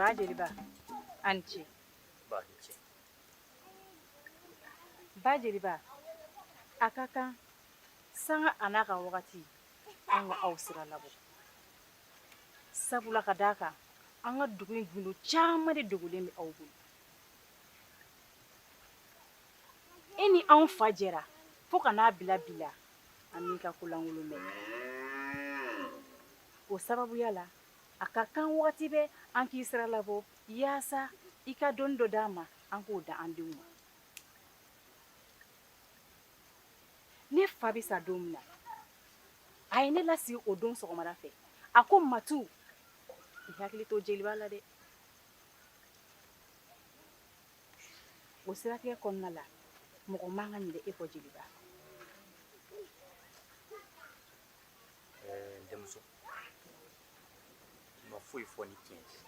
ba jeliba a ni ce ba ni ce ba jeliba a ka kan sanga a n'a ka wagati an ka aw sira labɔ sabula ka d'a kan an ka dugu in gundo caman de dogolen bɛ aw bolo e ni anw fa jɛra fo ka n'a bila bi la an m'i ka ko lankolon mɛn o sababuya la a ka kan wagati bɛɛ an k'i sira labɔ yaasa i ka dɔnni dɔ d'an ma an k'o d'an denw ma ne fa bɛ sa don min na a ye ne lasigi o don sɔgɔmada fɛ a ko matu i hakili to jeliba la dɛ o siratigɛ kɔnɔna la mɔgɔ man ka ɲinɛ e kɔ jeliba ɛɛ n denmuso ma foyi fɔ ni tiɲɛ tɛ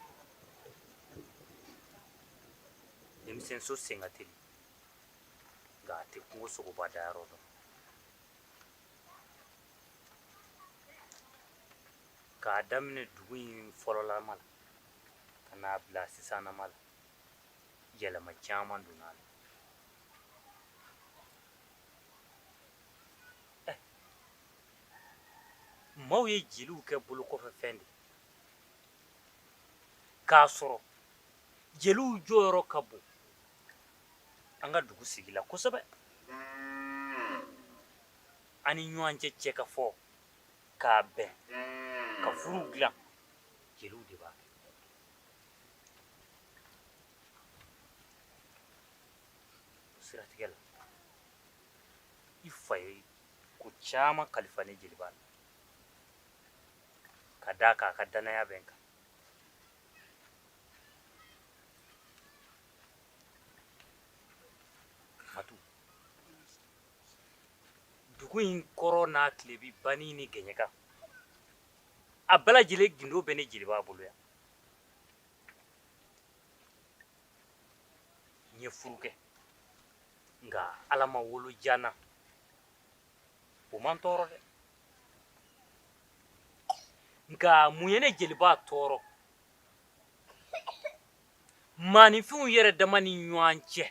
denmisɛn so sen ka teli nka a tɛ kungo sogoba dayɔrɔ dɔn k'a daminɛ dugu in fɔlɔlama la ka n'a bila sisanama la yɛlɛma caman donna a la eh, maaw ye jeliw kɛ bolokɔfɛfɛn de k'a sɔrɔ jeliw jɔyɔrɔ ka bon an ka dugu sigi la kosɛbɛ an ni ɲɔgɔn cɛ cɛ ka fɔ k'a bɛn ka furuw dilan jeliw de b'a kɛ o siratigɛ la i fa ye ko caman kalifa ne jeliba la ka d'a kan a ka dannaya bɛ n kan Matu. Dugu in kɔrɔn n'a tilebin bani ni gɛɲɛka a bɛɛ lajɛlen gindo bɛ ne jeliba bolo yan n ye furu kɛ nka ala ma wolo diya n na o ma n tɔɔrɔ dɛ nka mun ye ne jeliba tɔɔrɔ maaninfinw yɛrɛ dama ni ɲɔgɔn cɛ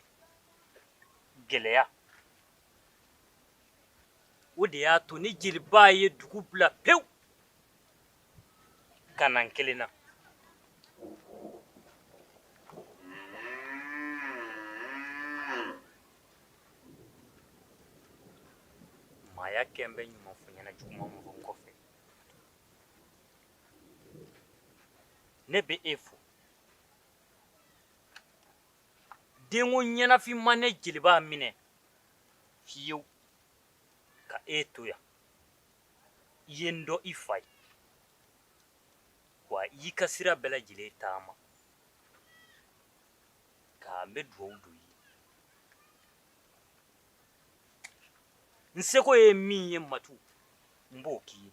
gɛlɛya o de y'a to ne jeliba ye dugu bila pewu ka na n kelen na maaya kɛ n bɛ ɲuman fɔ ɲɛna juguman mɔgɔ kɔfɛ ne bɛ e fo denko ɲɛnafin ma ne jeliba minɛ fiyewu ka e to yan i ye n dɔn i fa ye wa i y'i ka sira bɛɛ lajɛlen taama ka n bɛ dugawu don i ye n seko ye min ye matu n b'o k'i ye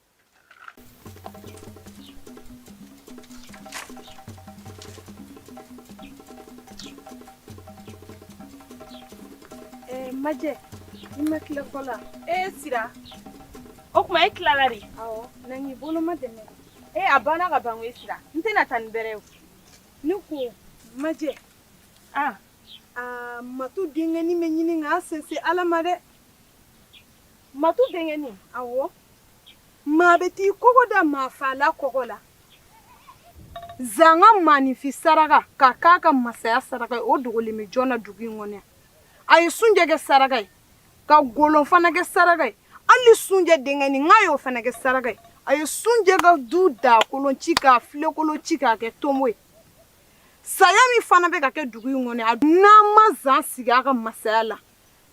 majɛ i ma tila ko la e sira o tuma e tilala de awɔ na k'i bolomadɛmɛ e a banna ka ban e sira n tɛna taa ni bɛrɛ ye ne ko majɛ a a matu denkɛni bɛ ɲini k'an sɛnsɛn ala ma dɛ matu denkɛni awɔ maa bɛɛ t'i kɔgɔ da maafaala kɔgɔ la zan ka maaninfin saraka ka k'a ka masaya saraka ye o dogolen bɛ jɔn na dugu in kɔnɔ yan a ye sunjɛ kɛ saraka ye ka golon fana kɛ saraka ye hali sunjɛ denkɛni n k'a y'o fana kɛ saraka ye a ye sunjɛ ka du dagakolon ci k'a filenkolon ci k'a kɛ tonbo ye saya min fana bɛ ka kɛ dugu in kɔnɔ yan n'an ma zan sigi a ka masaya la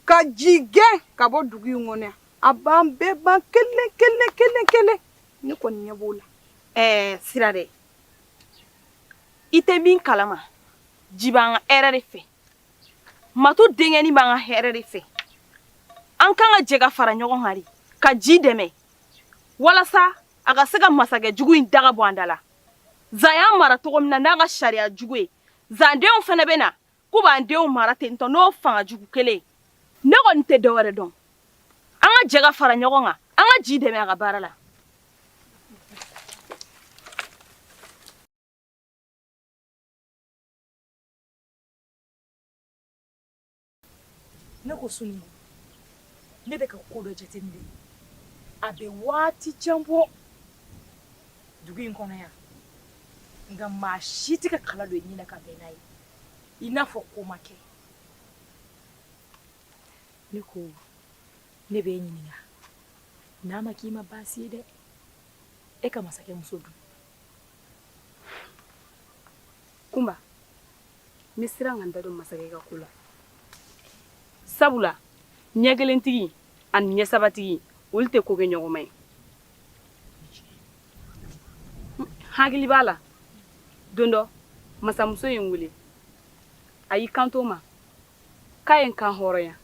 ka ji gɛn ka bɔ dugu in kɔnɔ A b'an bɛɛ ban kelen kelen kelen kelen ne kɔni ɲɛ b'o la ɛɛ sira dɛ i tɛ min kalama ji b'an ka hɛrɛ de fɛ matu denkɛni b'an ka hɛrɛ de fɛ an kan ka jɛ ka fara ɲɔgɔn kan de ka ji dɛmɛ walasa a ka se ka masakɛ jugu in daga bɔ an da la zan y'an mara cogo min na n'a ka sariya jugu ye zan denw fana bɛ na k'u b'an denw mara ten tɔ n'o fanga jugu kelen ne kɔni tɛ dɔ wɛrɛ dɔn an ka jɛ ka fara ɲɔgɔn kan an ka ji dɛmɛ a ka baara la ne ko sunu ne bɛ ka ko dɔ jateminɛ a bɛ waati jan bɔ dugu in kɔnɔ yan nka maa si tɛ ka kala don i ɲɛ na ka bɛn n'a ye i n'a fɔ ko ma kɛ ne ko ne bɛ e ɲininka n'a ma k'i ma baasi ye dɛ e ka masakɛ muso dun kunba n bɛ siran ka n da don masakɛ ka ko la sabula ɲɛ kelentigi ani ɲɛ sabatigi olu tɛ ko kɛ ɲɔgɔn ma ye hakili b'a la don dɔ masamuso ye n wele a y'i kanto n ma k'a ye n kan hɔrɔnya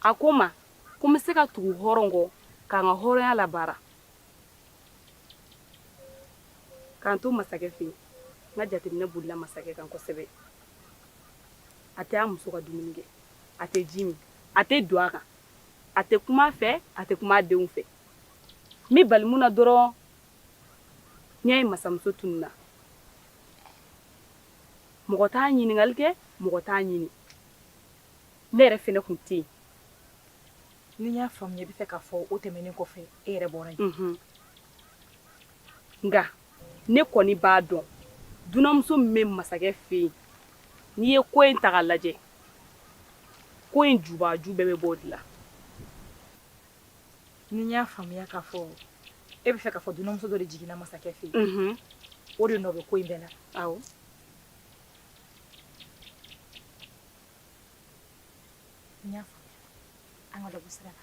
a ko n ma ko n bɛ se ka tugu hɔrɔn kɔ ka n ka hɔrɔnya labaara ka n to masakɛ fɛ yen n ka jateminɛ bolila masakɛ kan kosɛbɛ a tɛ a muso ka dumuni kɛ a tɛ ji min a tɛ don a kan a tɛ kuma a fɛ a tɛ kuma denw fɛ min balila n na dɔrɔn n'o ye masamuso tununna mɔgɔ t'a ɲininkali kɛ mɔgɔ t'a ɲini ne yɛrɛ fana tun tɛ yen ni n y'a faamuya e bɛ fɛ k'a fɔ o tɛmɛnen kɔfɛ e yɛrɛ bɔra nka ne kɔni b'a dɔn dunanmuso min bɛ masakɛ fɛ yen n'i ye ko in ta k'a lajɛ ko in jubaju bɛɛ bɛ bɔ o de la ni n y'a faamuya k'a fɔ e bɛ fɛ k'a fɔ dunanmuso dɔ de jiginna masakɛ fɛ yen o de nɔ bɛ ko in bɛɛ la awɔ n y'a faamuya an ka dɔ bɔ sira la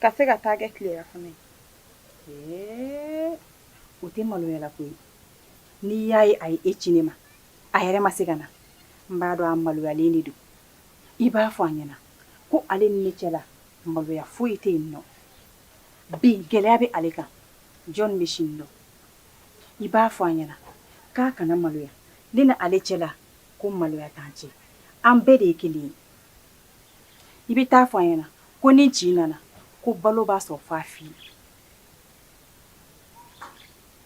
ka se ka taa kɛ tilerafana ye o tɛ maloyala ko ye n'i y'a ye a ye e ci ne ma a yɛrɛ ma se ka na n b'a dɔn a maloyalen de don i b'a fɔ a ɲɛna ko ale ni ne cɛla maloya foyi tɛ yen nɔ bi gɛlɛya bɛ ale kan jɔn bɛ sini dɔn i b'a fɔ a ɲɛna k'a kana maloya ne n'ale cɛla ko maloya t'an cɛ an bɛɛ de ye kelen ye i bɛ taa fɔ a ɲɛna ko ni ji nana ko balo b'a sɔrɔ fa fi ye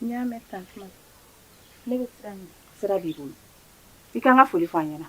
n y'a mɛn tan ne bɛ sira b'i bolo i ka n ka foli fɔ a ɲɛna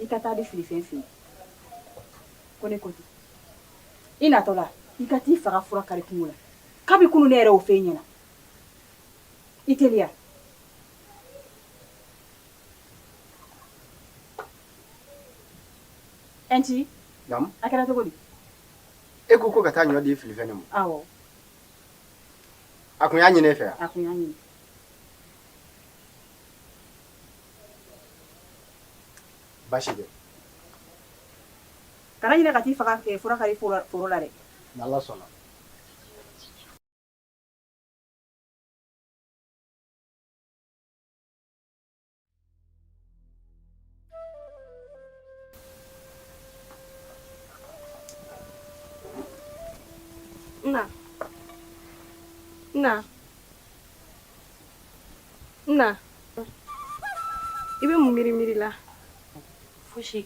i ka taa di filifɛn fɛ yen ko ne ko ten i natɔ la i ka t'i fa ka fura kari kungo la kabi kunu ne yɛrɛ o fɛn ɲɛna i teliya ɛnti a kɛra cogo di e ko ko ka taa ɲɔ di filifɛn ne ma awɔ a kun y'a ɲini e fɛ wa a kun y'a ɲini Basi tɛ kana ɲinɛ ka t'i fa ka k ɛɛ fura kari fo la foro la dɛ n'Ala sɔnna na na N na i bɛ mun miiri miiri la fosi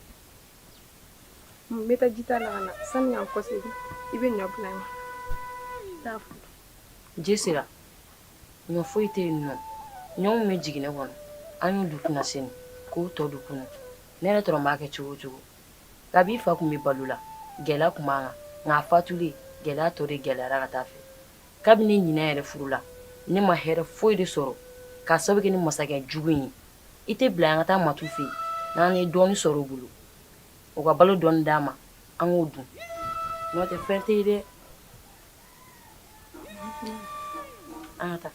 n bɛ taa ji ta la ka na sani ka n kɔsegin i bɛ ɲɔ bila n ye taa fɔ ji sera ɲɔ foyi tɛ yen nɔ ɲɔ min bɛ jiginɛ kɔnɔ an y'o dun kunasini k'o tɔ dun kunu ne yɛrɛ t'a dɔn n b'a kɛ cogo o cogo kabi i fa tun bɛ balo la gɛlɛya tun b'an kan nka a fatulen gɛlɛya tɔ de gɛlɛyara ka taa fɛ kabini ɲin yɛrɛ furula ne ma hɛrɛ foyi de sɔrɔ k'a sababu kɛ nin masakɛ jugu ye i t'a bila an ka taa matu fɛ yen n'an ye dɔɔni sɔrɔ u bolo u ka balo dɔ d'an ma an k'o dun n'o tɛ fɛn tɛ dɛ an ka taa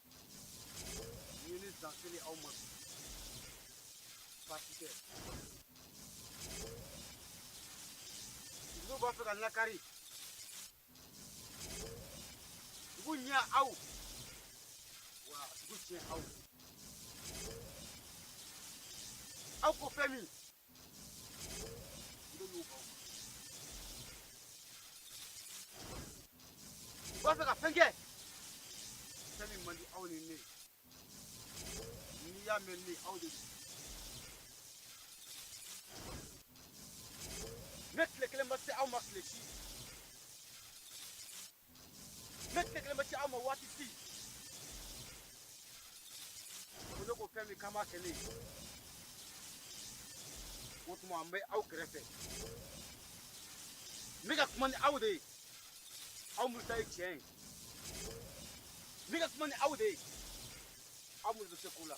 Yeni dakili aw ma. Fatike. Dugu b'a fɛ ka lakari. Dugu ɲɛ aw. Wa dugu tiɲɛ aw. Aw ko fɛn min. B'a fɛ ka fɛn kɛ fɛn min man di aw ni ne n'i y'a mɛn ni aw de don ne tile kelen ma se aw ma tile si ne tile kelen ma se aw ma waati si ko ne ko fɛn min kama kɛ ne ye o tuma an bɛ aw kɛrɛfɛ n bɛ ka kuma ni aw de ye aw minnu ta ye tiɲɛ ye n bɛ ka kuma ni aw de ye aw minnu bɛ se ko la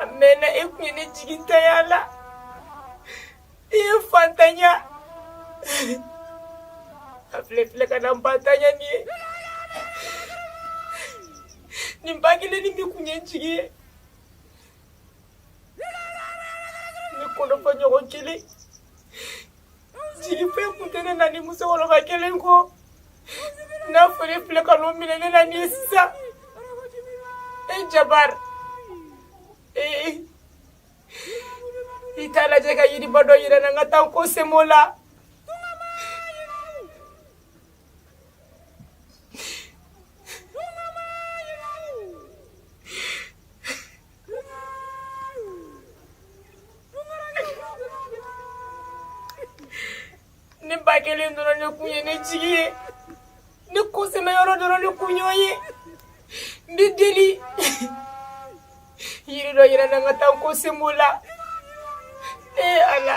a mɛnna e tun ye ne jigintanya la i ye n fantanya a filɛ i filɛ ka na n bantanya nin ye ne ba kelen nin de tun ye n jigi ye ne kɔnɔfɔɲɔgɔn kelen jigi foyi kun tɛ ne na ni musokɔrɔba kelen kɔ n'a fɔ e filɛ ka n'o minɛ ne na nin ye sisan e jabari ee i t'a lajɛ ka yiriba dɔ yira n na n ka taa n kɔ sɛm'o la ne ba kelen dɔrɔn ne kun ye ne jigi ye ne kɔsɛmɛyɔrɔ dɔrɔn ne kun y'o ye n b'i deli yiri dɔ yira n na n ka taa n kɔ sɛm'o la ee ala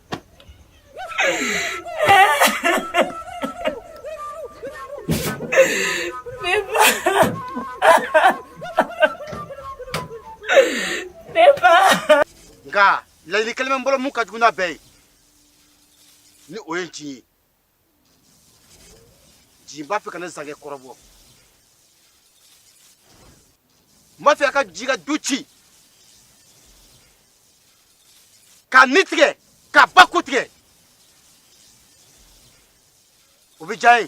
nka laɲini kelen bɛ n bolo min ka jugu n'a bɛɛ ye ni o ye nci ye nci b'a fɛ ka na zankɛ kɔrɔbɔ n b'a fɛ a ka ji ka du ci ka ni tigɛ ka ba ko tigɛ o bɛ diya n ye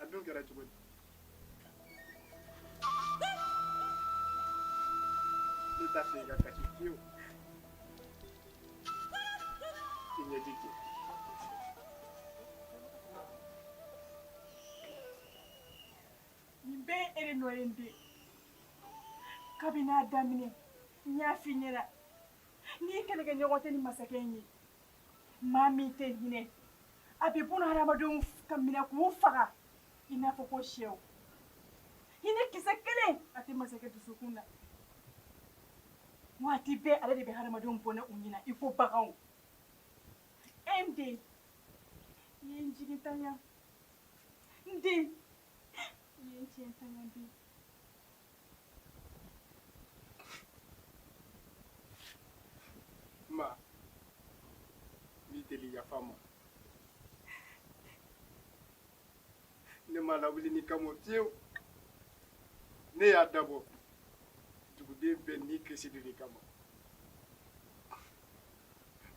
a dun kɛra cogo di ne t'a fɛ i ka kasi fiyewu i ɲɛji cɛ nin bɛɛ ye e de nɔ ye n den kabini a daminɛ n y'a f'i ɲɛna n den i kɛlɛkɛɲɔgɔn tɛ nin masakɛ in ye Maa min tɛ hinɛ a bɛ bolo hadamadenw ka minɛ k'u faga i n'a fɔ ko shɛw hinɛ kisɛ kelen a tɛ masakɛ dusukun na waati bɛɛ ale de bɛ hadamadenw bɔnɛ u ni na i ko baganw n den i ye n jigintanya n den i ye n jigintanya den ma lawuli nin kama fiyewu ne y'a dabɔ duguden bɛɛ ni kisi de kama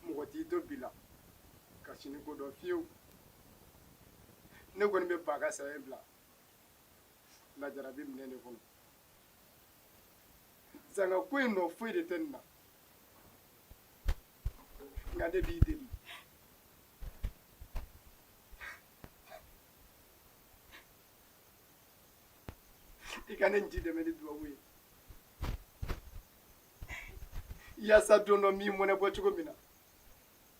mɔgɔ t'i to bi la ka sini ko dɔn fiyewu ne kɔni bɛ ba ka saya bila lajara bɛ minɛ de kɔnɔ zanga ko i nɔ foyi de tɛ nin na nka ne b'i deli i ka ne ji dɛmɛ ni dubabu ye yaasa don dɔ n b'i mɔnɛ bɔ cogo min na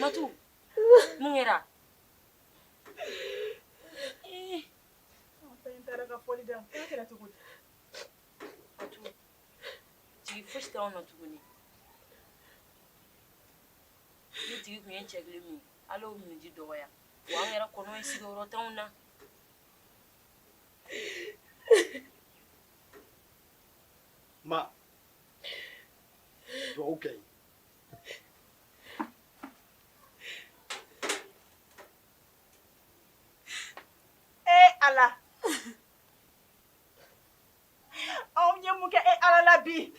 Matu, mun kɛra? Ee, n taara ka fɔli da, k'a kɛra cogo di? Matu, jigi fosi t'anw na tuguni. Ne jigi tun ye cɛ kelen min ye, Ala y'o minniji dɔgɔya, wa an yɛrɛ kɔnɔ ye sigiyɔrɔ t'anw na. Ma. Duwawu kɛ n ye. Ee Ala! An ye mun kɛ e Ala la bi?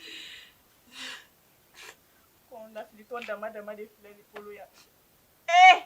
Ko n lafilitɔ dama dama de filɛ ne bolo yan. Ee!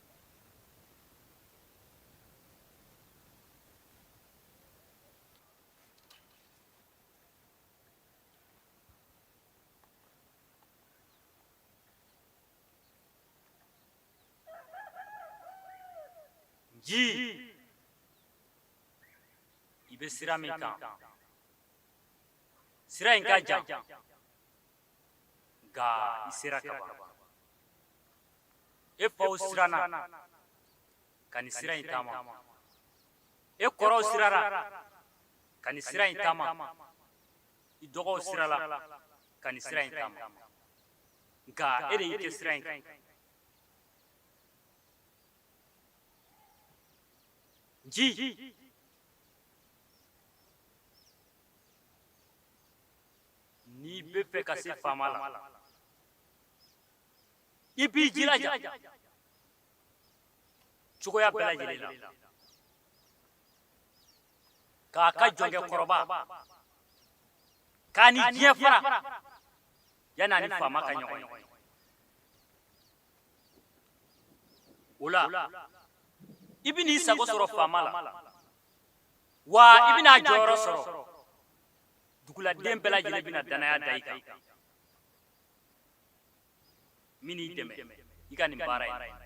ji i bɛ sira min kan sira in ka jan nka i sera ka ban e faw siranna ka nin sira in taama e kɔrɔw siranna ka nin sira in taama i dɔgɔw siranna ka nin sira in taama nka e de y'i kɛ sira in kan ji n'i bɛ fɛ ka se faama la i b'i jilaja cogoya bɛɛ lajɛlen la k'a ka jɔnkɛ kɔrɔba k'a ni diɲɛ fara yanni a ni faama ka ɲɔgɔn ye o la i bɛn'i sago sɔrɔ faama la wa i bɛna a jɔyɔrɔ sɔrɔ duguladen bɛɛ lajɛlen bɛna danaya da i kan an bɛn'i dɛmɛ i ka nin baara ye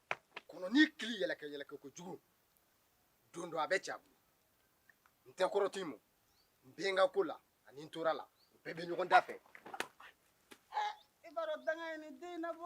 kɔnɔnin kili yɛlɛkɛ yɛlɛkɛ kojugu don dɔ a bɛ ci a bolo n tɛ kɔrɔtɔ i ma n bɛ n ka ko la ani n tora la u bɛɛ bɛ ɲɔgɔn da fɛ i b'a dɔn danga ye nin den nabɔ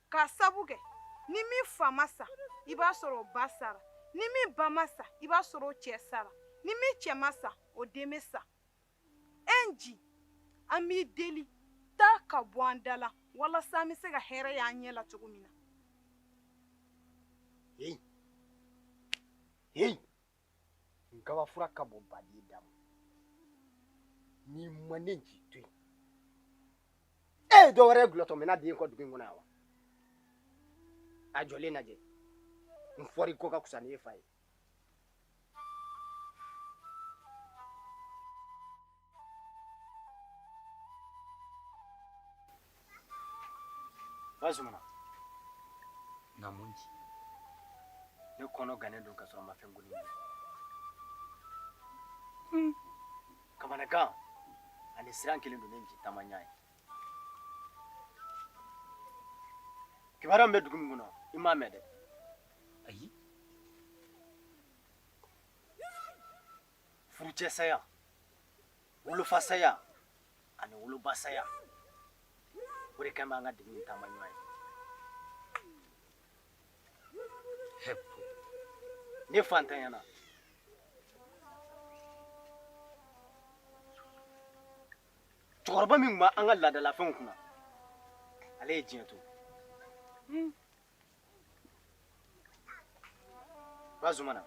Ka sabu kɛ ni min fa ma sa i b'a sɔrɔ o ba sara ni min ba ma sa i b'a sɔrɔ o cɛ sara ni min cɛ ma sa o den bɛ sa e nji an b'i deli taa ka bɔ an da la walasa an bɛ se ka hɛrɛ y'an ɲɛ la cogo min na. nkabafura ka bon baden da ma n'i ma ne nji to yen e ye dɔ wɛrɛ kulotɔ mɛn a den kɔ dugu in kɔnɔ yan wa a jɔlen lajɛ n foroko ka kusa ni e fa ye bazumana namu nji ne kɔnɔ gannen don ka sɔrɔ n ma fɛn goni hmm. kamanagan ani siran kɛlen don ne nji taamaɲɔgɔn ye kibaruya min bɛ dugu in kɔnɔ i m'a mɛn dɛ ayi furucɛ saya wolofa saya ani woloba saya o de kɛlen b'an ka dugu in taamaɲɔgɔn ye ne fantanyana cɛkɔrɔba min tun b'an ka laadalafɛnw kunna ale ye diɲɛ to Ba Zumana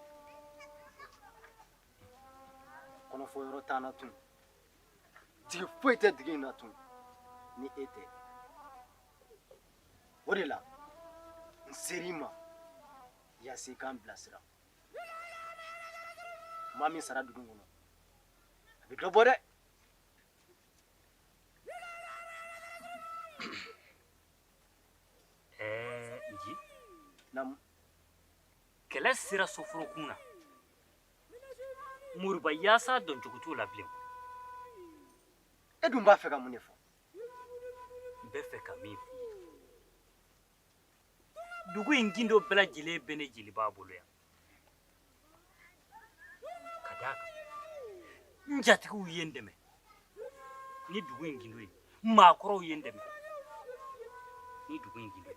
kɔnɔfɔ yɔrɔ t'an na tun jigi foyi tɛ dugu in na tun ni e tɛ o de la n ser'i ma yaasa i k'an bilasira maa min sara dugu kɔnɔ a bɛ dɔ bɔ dɛ Ɛɛ nci naamu kɛlɛ sera soforokun na moribayaasa dɔncogo t'o la bilen e dun b'a fɛ ka mun de fɔ n bɛ fɛ ka min fɔ dugu in gindo bɛɛ lajɛlen bɛ ne jeliba bolo yan ka d'a kan n jatigiw ye n dɛmɛ ni dugu in gindo ye maakɔrɔw ye n dɛmɛ ni dugu in gindo ye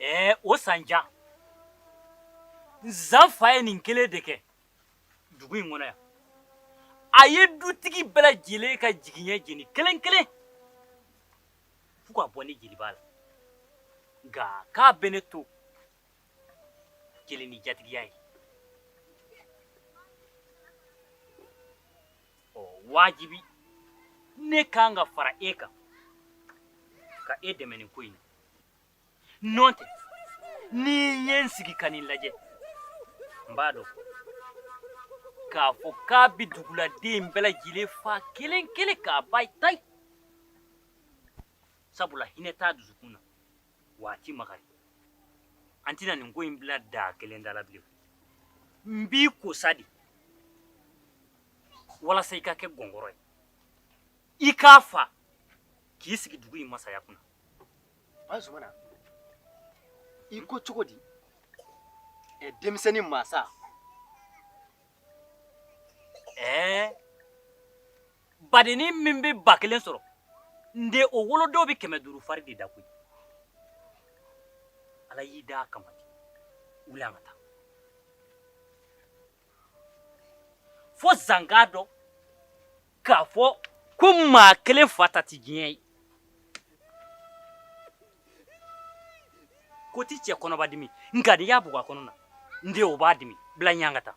Ɛɛ o san jan Zan fa ye nin kelen de kɛ dugu in kɔnɔ yan. A ye dutigi bɛɛ lajɛlen ka jigiɲɛ jeni kelen kelen fo ka bɔ ne jeliba la. Nka k'a bɛ ne to jeli ni jatigiya y'o wajibi ne kan ka fara e kan ka e dɛmɛ nin ko in na nɔn tɛ ni n ye n sigi ka nin lajɛ n b'a dɔn k'a fɔ k'a bɛ duguladen bɛɛ lajɛlen fa kelen kelen k'a ban tayi sabula hinɛ t'a dusukun na wa a ti makari an tɛna nin ko in bila da kelen da la bilen n b'i kosa de walasa i ka kɛ gɔngɔrɔ ye i k'a fa k'i sigi dugu in masaya kunna Ba Zumana i ko cogo di ɛ denmisɛnnin mansa ɛɛ badenni min bɛ ba kelen sɔrɔ n den o wolodon bɛ kɛmɛ duuru fari de da koyi ala y'i da a kama de wuli an ka taa fo zan k'a dɔn k'a fɔ ko maa kelen fa ta tɛ diɲɛ ye ko ti cɛ kɔnɔ b'a dimi nka n'i y'a bugɔ a kɔnɔ na n den o b'a dimi bila ɲɛ an ka taa